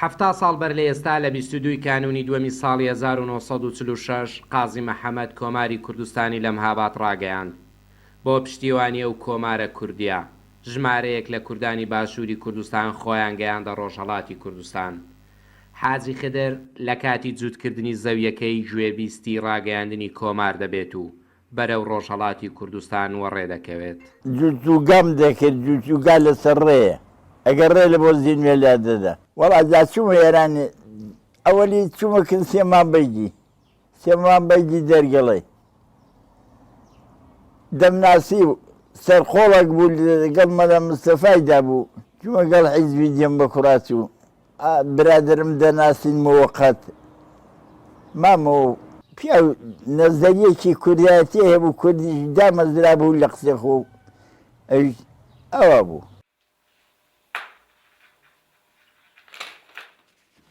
حەفتا ساڵ بەر لە ئێستا لە بیست و دوو ی کانوونی دووەمی ساڵی هەزار و نۆ سەد و چل و شەش قازی محەمەد کۆماری کوردستانی لە مهاباد ڕاگەیاند. بۆ پشتیوانی ئەو کۆمارە کوردیە، ژمارەیەک لە کوردانی باشووری کوردستان خۆیان گەیاندە ڕۆژهەڵاتی کوردستان. حاجی خدر لە کاتی جووتکردنی زەویەکەی گوێبیستی ڕاگەیاندنی کۆمار دەبێت و بەرەو ڕۆژهەڵاتی کوردستان وەڕێ دەکەوێت. جوجوگام دەکرد جوجوگا لەسەر ڕێیە ئەگەر ڕێ لە بۆزی نوێ لا دەدا. وەڵا جا چوومە ئێران ئەوەلی چوومە کن سێما بەیگی سێما بەیگی دەرگەڵەی دەمناسی و سەرقۆڵەک بوو لەگەڵ مەلا مستەفای دابوو چوومە گەڵ حیزبی دێم بە کوڕاچوو برادەرم دەناسین موقت مامۆ. پیاو نەزەریەکی کوردایەتی هەبوو کوردیش دامەزرابوو لە قسەی خۆ ئەویش ئەوا بوو.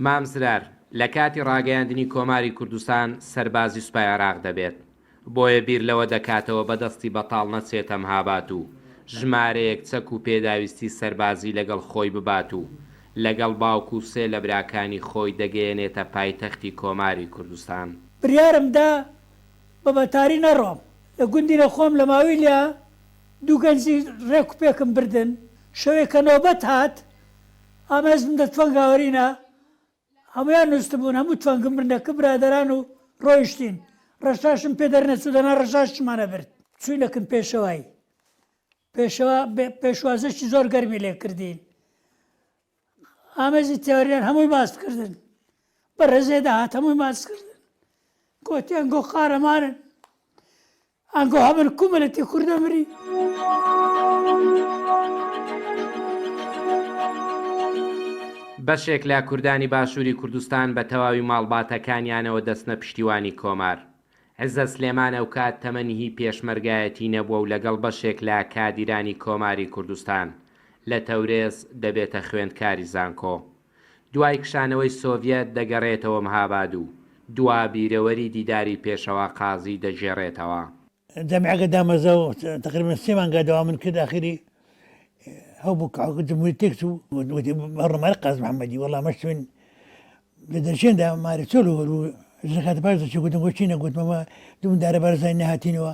مام زرار لە کاتی ڕاگەیاندنی کۆماری کوردستان سەربازی سوپای عێراق دەبێت بۆیە بیر لەوە دەکاتەوە بە دەستی بەتاڵ نەچێتە مهاباد و ژمارەیەک چەک و پێداویستی سەربازی لەگەڵ خۆی ببات و لەگەڵ باوک و سێ لە براکانی خۆی دەگەیەنێتە پایتەختی کۆماری کوردستان. بڕیارم دا بە مەتاری نەڕۆم. لە گوندی نەخۆم لە ماویلیا دوو گەنجی ڕێک و پێکم بردن. شەوێک کە نۆبەت هات، ئامێزم دە تفەنگاوەرینە هەموویان نوستبوون، هەموو توانگم بردە کپ برادەران و ڕۆیشتین. ڕەشاشم پێ دەرنەچوو، دەنا ڕەشاشیشمان ئەبرد. چووینەکن پێشەوای. پێشەوا پێشوازییەکی زۆر گەرمی لێ کردین. ئامێزی تێوەریان هەمووی ماست کردن. بەڕێزێ دەهات هەمووی ماست کردن. گۆتیان گۆ قارەمانن. ئانگۆ هەبن کو ملەتی کور دەمری. بەشێک لە کوردانی باشووری کوردستان بە تەواوی ماڵباتەکانیانەوە دەچنە پشتیوانی کۆمار. عزەت سلێمان ئەوکات تەمەنی هی پێشمەرگایەتی نەبووە و لەگەڵ بەشێک لە کادیرانی کۆماری کوردستان، لە تەورێز، دەبێتە خوێندکاری زانکۆ. دوای کشانەوەی سۆڤیەت دەگەرێتەوە مهاباد و دوا بیرەوەری دیداری پێشەوا قازی دەگێڕێتەوە. جامیعەکە دامەزرا و تەقریبەن سێ مانگا دەوامم کرد، ئاخری ئەو بوو کە جمهوری تێک چوو، گوتی بە ڕوماری قازی محەمەدی وەڵا مە شتوین لە دەرچێندا ماری چۆل و ژنەکەتە پاش دەچوو، گوتم بۆچی نەگوتمەوە دوو مندارە بارزانی نەهاتینەوە،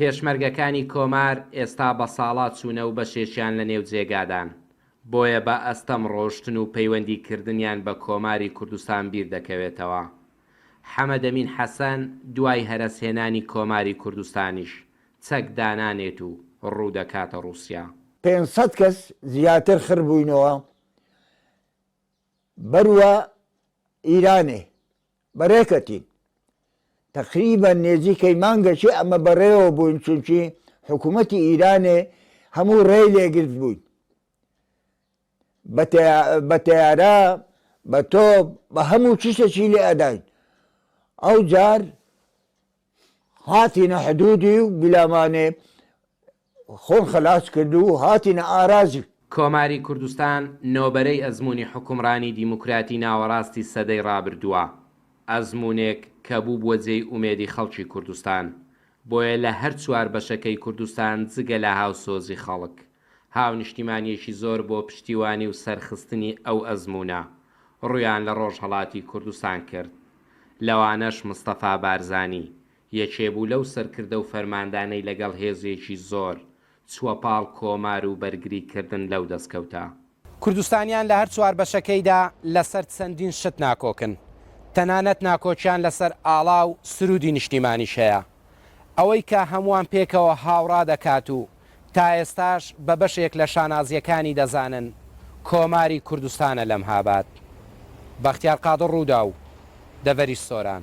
پێشمەرگەکانی کۆمار ئێستا بە ساڵا چوونە و بەشێکیان لە نێو جێگادان، بۆیە بە ئەستەم ڕۆشتن و پەیوەندی کردنیان بە کۆماری کوردستان بیر دەکەوێتەوە. حەمەدەمین حەسەن دوای هەرەس هێنانی کۆماری کوردستانیش چەک دانانێت و ڕوو دەکاتە ڕووسیا. پێنج سەد کەس زیاتر خڕ بووینەوە بەروە ئیرانێ بەڕێکەتین تەقریبەن نێزیکەی مانگەکی ئەمە بەڕێوە بووین چونکی حکوومەتی ئیرانێ هەموو ڕێی لێ گرت بووین بە تەیارە بە تۆپ بە هەموو چشتەکی لێ ئەداین ئەو جار هاتینە حدودی و بلامانێ خۆن خەلاس کرد و هاتینە ئاراجی. کۆماری کوردستان نۆبەرەی ئەزموونی حوکمڕانی دیموکراتی ناوەڕاستی سەدەی ڕابردووە، ئەزموونێک کە بووبووە جێی ئومێدی خەڵکی کوردستان، بۆیە لە هەر چوار بەشەکەی کوردستان جگە لە هاوسۆزی خەڵک، هاونیشتیمانیەکی زۆر بۆ پشتیوانی و سەرخستنی ئەو ئەزموونە ڕوویان لە ڕۆژهەڵاتی کوردستان کرد، لەوانەش مستەفا بارزانی یەکێ بوو لەو سەرکردە و فەرماندانەی لەگەڵ هێزێکی زۆر چووە پاڵ کۆمار و بەرگری کردن لەو دەستکەوتە. کوردستانیان لە هەر چوار بەشەکەیدا لەسەر چەندین شت ناکۆکن، تەنانەت ناکۆکیان لەسەر ئاڵا و سروودی نیشتیمانیش هەیە. ئەوەی کە هەمووان پێکەوە هاوڕا دەکات و تا ئێستاش بە بەشێک لە شانازییەکانی دەزانن، کۆماری کوردستانە لەم هابات. بەختیار قادر رووداو، دەڤەری سۆران.